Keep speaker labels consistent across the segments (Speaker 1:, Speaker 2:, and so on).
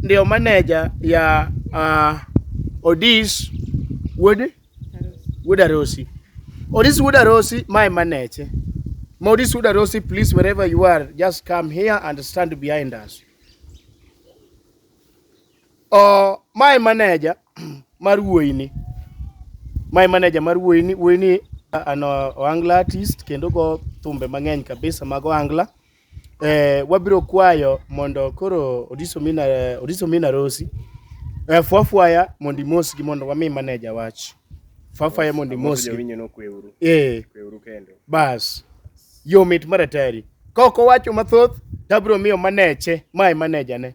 Speaker 1: ndio manager ya uh, Odis Wood Wood Arosi. Odis Wood Arosi, my manager. Maurice Wood Arosi, please, wherever you are, just come here and stand behind us. Uh, my manager mar wuoyini my manager mar wuoyini wuoyini an ohangla artist kendo go thumbe mang'eny kabisa mag ohangla eh, wabiro kwayo mondo koro Odiso Mina, Odiso Mina Rosi eh, fwafwaya mondo imosgi mondo wami maneja wach fwafwaya mondo imosgi Jawinyo nokweuru. eh, Kweuru kendo. bas yo mit maratari ka ok owacho mathoth tabiro miyo maneche mae manejane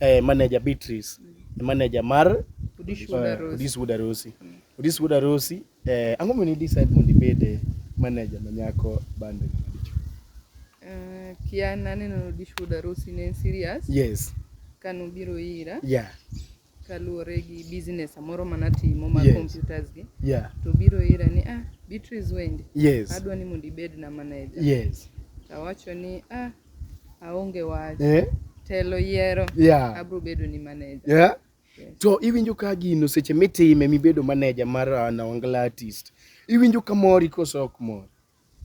Speaker 1: eh, manager Beatrice mm. manager mar eh, Odis Wuod Arosi Odis Wuod Arosi eh, ang'o momiyo ni decide mondo ibed eh, manager manyako bande Uh, kia naneno Odis Wuod Arosi ne en serious yes kano biro ira yeah kaluwore gi business amoro mana timo ma yes. computers gi yeah. to biro ira ni ah Beatrice Wendi yes. adwa ni mondo ibed na manager yes. awacho ni ah Aonge wach. Eh? Telo yiero. Yeah. Abro bedo ni manager. Yeah. To iwinjo ka gino seche mitime mibedo manager mar uh, Nawangala artist. Iwinjo ka mori koso ok mor?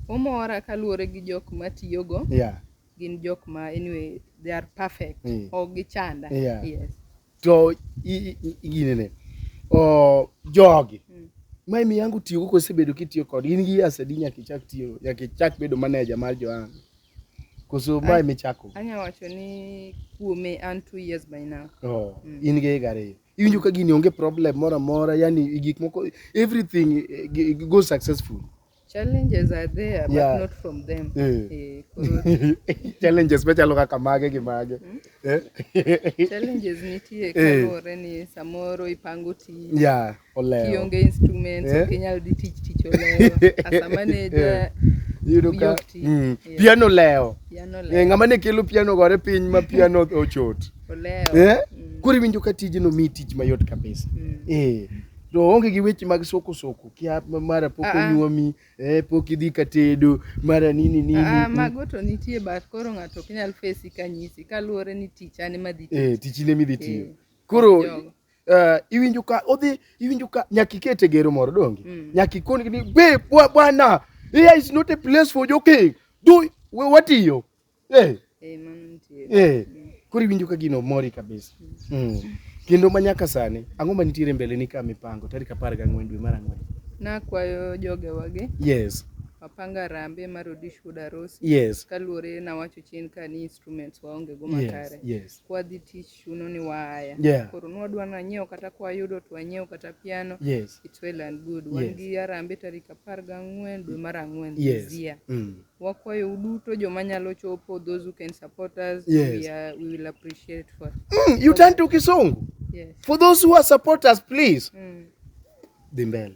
Speaker 1: Omora kaluwore gi jok matiyogo. Yeah. Gin jok ma anyway they are perfect. Mm. Ok gichanda. Yeah. Yes. To ginene. Oh, jogi. Mm. Mae miyangu tiyogo kosebedo kitiyo kod in gi asadi nyaka ichak tiyo nyaka ichak bedo manager mar Joanna. Koso ma ema ichako? Anya wacho ni kuome an two years by now. Oh, mm. in gi higa ariyo. Iwinjo ka gini onge problem moro amora, yani gik moko everything eh, go successful. Challenges are there but yeah. not from them. Yeah. Eh, eh challenges machalo kaka mage gi mage. Hmm? Eh? Challenges nitie eh. kaluwore ni samoro ipango tich. Yeah. olewo. Kionge instruments Eh. ok inyal dhi tich tich olewo. As a manager, Iyudo ka Yok ti. mm, Yeah. piano olewo. piano Eh, olewo. Ng'ama ne kelo piano gore piny ma piano ochot. Olewo. Eh? Mm. Koro iwinjo ka tijno mi tich mayot kabisa. Mm. Eh. To onge gi weche mag soko soko kia ma- mara pok Ah, ah. onyuomi, eh, pok idhi ka tedo, mara nini nini. Ah, mm. mago to nitie but koro ng'ato ok nyal fesi kanyisi kaluwore ni tich an ema dhi Eh, tich ine midhi tiyo. Eh, Koro jogo. Uh, iwinjo ka odhi iwinjo ka nyaka ikete gero moro donge mm. nyaka ikoni ni be bwana here is not a place for joking do we watiyo eh hey. eh man eh hey. mm. kuri iwinjo ka gino mori kabisa mm. mm. kendo ma nyaka sani ang'o ma nitiere mbele ni ka mipango tarik apar ga ang'wen dwe mar ang'wen nakwayo joge wage yes wapanga rambe mar odish wuod arosi yes. kaluwore nawacho chien ka ni instruments waonge go makare yes. yes. kwadhi tich chuno ni waya yeah. koro nwadwa nanyiewo kata kwayudo to wanyiewo kata piano yes. it's well and good wan yes. gi arambe tarik apar gang'wen dwe mar ang'wen yes. zia mm. wakwayo uduto joma nyalo chopo those who can support us yes. we, are, we will appreciate for mm, you turn to kisungu yes. for those who are supporters please mm. dhi mbele